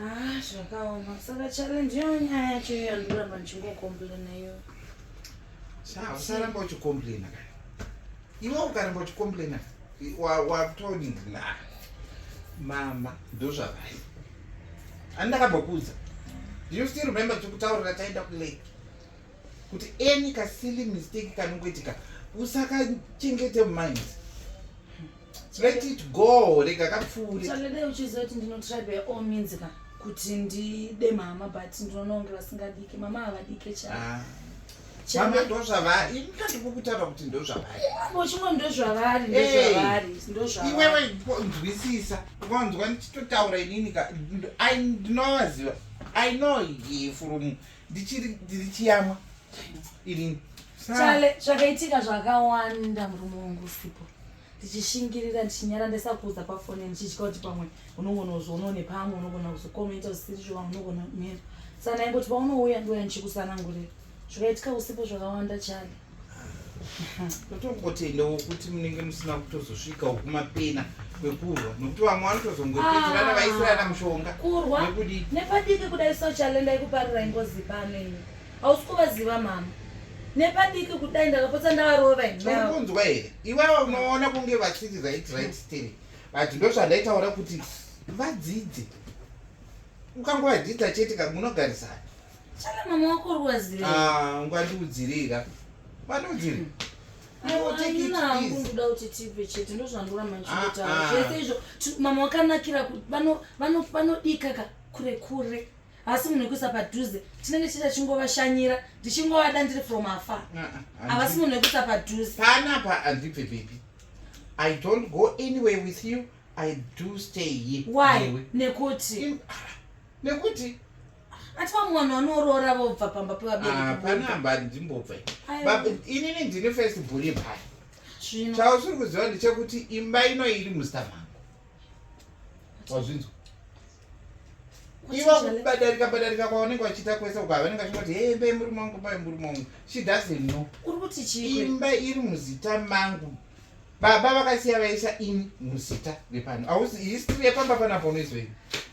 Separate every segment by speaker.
Speaker 1: Ah, zvakaoma saka challenge iyo nyaya yacho iyo yandoramba ndichingokomplaina iyo usaramba
Speaker 2: uchikomplaina ka iwe ukaramba uchikomplaina watoni na mama ndozvavai ani ndakambokudza you still remember tikutaurira taenda kulake kuti any kasili mistake kanongoitika usakachengete mumind let it go rega kapfuure chalede uchizoti
Speaker 1: ndino try by all means ka kuti ndide mama but ndinoona kunge vasingadike mama havadike cha ah. mama
Speaker 2: ndozvavari ini kandiko kutaura kuti ndozvavari uchingo
Speaker 1: ndozvavari ndozvavari
Speaker 2: eh. ndozvavari iwewe nzwisisa ukanzwa ndichitotaura inini ka ndinovaziva i know from ndichiri ndiri chiyamwa irini chale
Speaker 1: zvakaitika zvakawanda murume wangu usipo ndichishingirira ndichinyara ndisakuudza pafoni ndichitya kuti pamwe unogona kuzvionawo nepamwe unogona kuzokomenta zvisiri zvoa unogona kumira sana ingoti paunouya ndiuya ndichikusanangurira zvakaitika usipo zvakawanda chale totongotenda
Speaker 2: wokuti munenge musina kutozosvika wokumapena kwekurwa nokuti vamwe vanotozongopeterana ah. vaisirana mushonga kurwa
Speaker 1: nepadiki kudai sochalenda ikuparira ingozi pano ini hausi kuvaziva mama nepadiki kudai ndakapotsa ndavarova inonzwa here
Speaker 2: iwawa unoona kunge vasiri right right steri but ndozvandaitaura kuti vadzidze ukangovadzidza chete kamunogarisana Shala mama
Speaker 1: wako ruwazire. Ah, ngwati udzirika.
Speaker 2: Ngwati udzirika. Hmm.
Speaker 1: ndoda kuti tipe chete ndozvandoramba ndichitaura ah, ah. zvese izvo mama wakanakira kuti vanodika ka kure kure asi munhu wekuisa padhuze tinenge tichita chingovashanyira ndichingovada ndiri from afar ah, havasi munhu wekuisa padhuze panapa handibve
Speaker 2: baby i don't go anywhere with you i do stay here why nekuti
Speaker 1: nekuti ati vamwe vanhu vanoroora vobva pamba pevaberikipana ah, amba ndimbobva
Speaker 2: inini ndine first buri paya chausiri kuziva ndechekuti imba ino iri muzita mangu wazvinzwa iva kubadarika badarika kwavanenge vachiita kwese uko havanenge vachingoti he imba yemurume wangu imba yemurume wangu she doesn't know uri kuti chii imba
Speaker 1: iri muzita
Speaker 2: mangu baba vakasiya vaisa ini muzita repano ausi history yepamba panapo unoizoini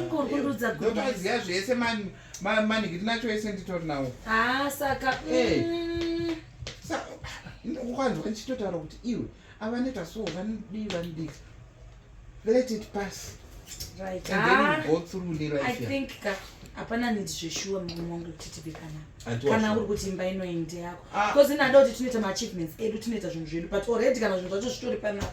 Speaker 1: ingorundudza ndotoziva zvese
Speaker 2: manhikiti nacho ese nditori nawo haa saka
Speaker 1: eh.
Speaker 2: mm. ukanzwa ndichitotaura kuti iwe avaneta so vanodii vanodii let it pass right. and then
Speaker 1: ah, go
Speaker 2: through ne life i think ka
Speaker 1: hapana nidi zveshuwa mumwe wangu kuti tibe kana kana uri kuti imba ino inde yako ah. because inada kuti tinoita maachievements edu tinoita zvinhu zvedu but already kana zvinhu zvacho zvitori panapa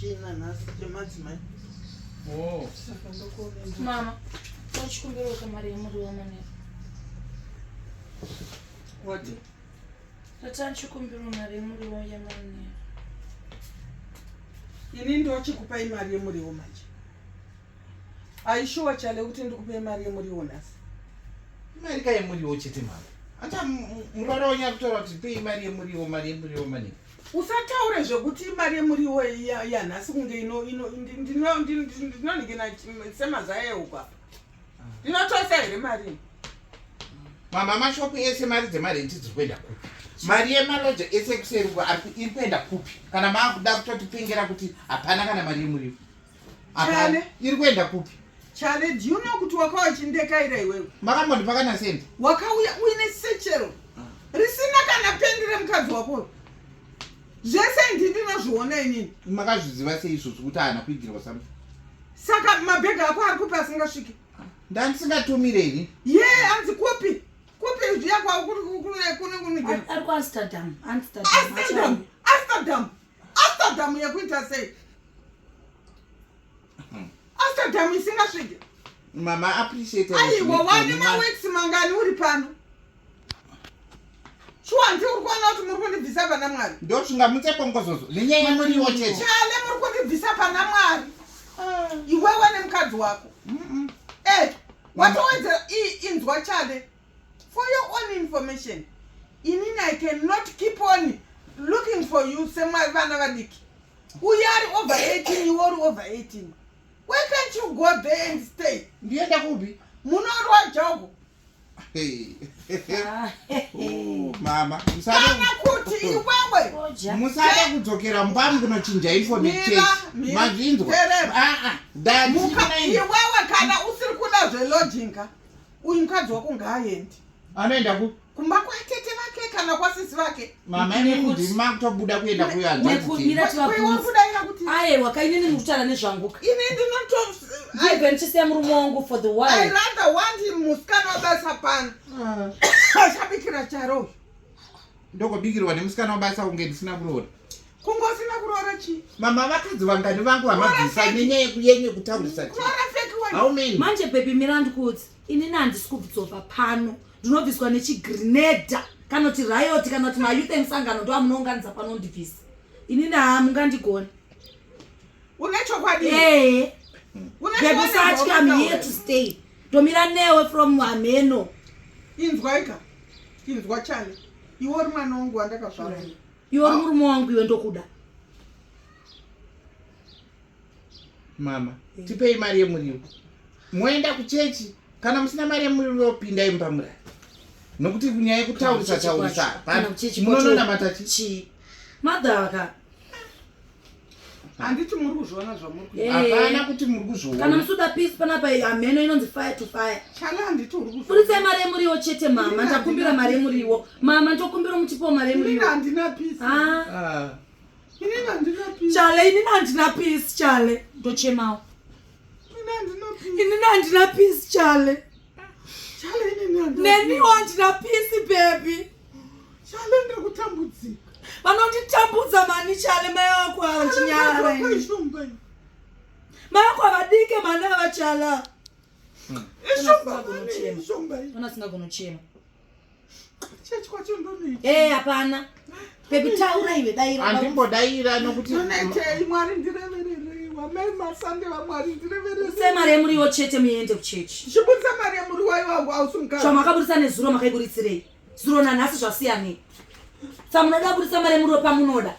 Speaker 3: china nhasi chemadzimai oh.
Speaker 1: mama tochikumbirawo kamari yemuriwo manero
Speaker 3: wati
Speaker 1: tatani chikumbiro mari yemuriwo yemanero
Speaker 3: ini ndochikupai mari yemuriwo manje aishuwa chale kuti ndikupe mari yemuriwo nhasi imari
Speaker 2: ka yemuriwo chete mama ata murwara wenyu akutora kuti pei mari yemuriwo mari yemuriwo mani usataure
Speaker 3: zvekuti imari yemuriwo yanhasi kunge ndinonike semazaya euko apa ndinotoisa here mari
Speaker 2: mama mashopu ese mari dzemarenti dziri kuenda kupi mari yemaloja ese ekuseruko iri kuenda kupi kana maakuda kutotipengera kuti hapana kana mari yemuriwo
Speaker 3: Chale. iri kuenda
Speaker 2: kupi Chale, do you know
Speaker 3: kuti wakauya uchindekaira iwewe? makambondipaka nasenti
Speaker 2: Wakauya uine
Speaker 3: sechero risina kana pendi remukadzi wako uyu. Zvese ndi ndinozviona inini. makazviziva sei izvozvi
Speaker 2: kuti haana kuigirwa something Saka
Speaker 3: mabhegi ako ari kupi asingasviki? ndandisingatumire
Speaker 2: ini Ye,
Speaker 3: anzi kupi? Kupi zviya kwavo kuri kune kune kune Ari- ari kuamsterdam amsterdam
Speaker 1: Amsterdam, Amsterdam.
Speaker 3: Amsterdam yekuita sei? Hmm. Amsterdam isingasvike. Mama
Speaker 2: appreciate. Aiwa wani ma
Speaker 3: weeks mangani uri pano? Shuwa hanti uri kuona kuti muri kundibvisa pana Mwari. Ndo zvingamutse bongozozo.
Speaker 2: Nenyaya yemuriwo chete. Chale muri kundibvisa
Speaker 3: pana Mwari. Ah. Iwewe nemukadzi wako. Mm -mm. Eh, watowedzera inzwa chale. For your own information, inini I cannot keep on looking for you semavana vadiki. Uye ari over 18, iwe uri over 18. Why can't you go there and stay? Ndienda kupi?
Speaker 2: Munorwa jogo.
Speaker 3: Hey.
Speaker 2: Ah. Oh, mama, musade kana
Speaker 3: kuti iwewe musade
Speaker 2: kudzokera mbamu kunochinja information. Mazvinzwa. Ah ah. Dad, iwewe
Speaker 3: kana usiri kuda zvelodging ka. uyu mukadzi wako ngaaendi anoenda ku
Speaker 2: kumba kwatete
Speaker 3: vake kana kwasisi vake mama ine kuti
Speaker 2: makutobuda kuenda kuyanzatiwakudaira
Speaker 1: kuti
Speaker 3: aye wakainini
Speaker 1: mukutaura nezvanguka ini ndinoto
Speaker 3: aive ndichisiya
Speaker 1: murume wangu for the while i rather want him
Speaker 3: musikana wabasa pano ah. ashabikira charo
Speaker 2: ndokubikirwa nemusikana wabasa kunge ndisina kuroora kungosina
Speaker 3: kuroora chi mama vakadzi vangani
Speaker 2: vangu vamabvisa nenyaya yenye kutaurisa
Speaker 3: manje bebi
Speaker 2: mirandi
Speaker 1: kuti inini handisi kubvudzopa pano ndinobviswa nechigrineda kana kuti rayoti kana kuti mayouth emusangano ndo amunounganidza pano ndibvisa inini haa mungandigoni
Speaker 3: une chokwadi ee
Speaker 1: bebi usatya miyetustay Tomira newe from hameno. Inzwaika.
Speaker 3: Inzwa chani. Iwe uri mwana wangu wandakazvarwa. Iwe uri murume
Speaker 1: wangu iwe ndokuda.
Speaker 2: Mama, eh. tipei mari yemuriwo. Moenda kuchechi kana musina mari yemuriwo pindai mumba murara. Nokuti nyaya yekutaurisa taurisa. Munononamata chii? Madhaka.
Speaker 3: handiti muri kuzviona zvamuri eh. hapana kuti muri kuzviona
Speaker 2: kana musuda peace panapa
Speaker 1: hameno inonzi fire to fire chala handiti uri kuzviona
Speaker 3: buritsai mari yemuriwo chete
Speaker 1: mama ndakumbira mari yemuriwo mama ndokumbira muchipo mari yemuriwo handina peace ah.
Speaker 3: ah. inini handina peace chale inini handina
Speaker 1: peace chale ndochemawo inini handina peace chale
Speaker 3: neniwo handina pisi
Speaker 1: bebi chale
Speaker 3: ndiri kutambudzika vanonditambudza
Speaker 1: mani chale mai wako avachinyara mai wako avadike mani avachala hmm. ishombaasingagonochema
Speaker 3: Church kwacho ndonei. Eh hapana.
Speaker 1: Pekutaura iwe daira. Andimbo daira nokuti
Speaker 2: Ndonetei Mwari
Speaker 3: ndirevererei. Wamai masande vaMwari ndirevererei. Use mari yemuriwo
Speaker 1: chete muende kuchechi. Chibudisa mari yemuri
Speaker 3: wayo wangu hausi mukadzi. Zvamakaburitsa nezuro
Speaker 1: makaiburitsirei? Zuro nanhasi zvasiyanei? Sa munoda kuburitsa mari yemuriwo pamunoda.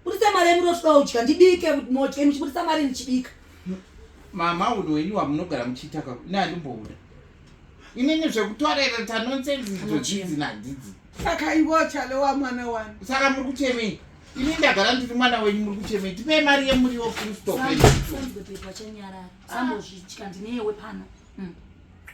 Speaker 1: Buritsa mari yemuriwo toda kudya ndibike modya muchiburitsa mari ndichibika. mama
Speaker 2: udo wenyu wamunogara muchiita ka ne andimbobuda. inini zvekutorera tanonsense ndizvozvinzi nadhidzi saka ivo
Speaker 3: chale wa mwana wani saka muri kuchemei
Speaker 2: ini ndagara ndiri mwana wenyu muri kuchemei tipei mari yemuriwo full
Speaker 1: stop
Speaker 2: hmm.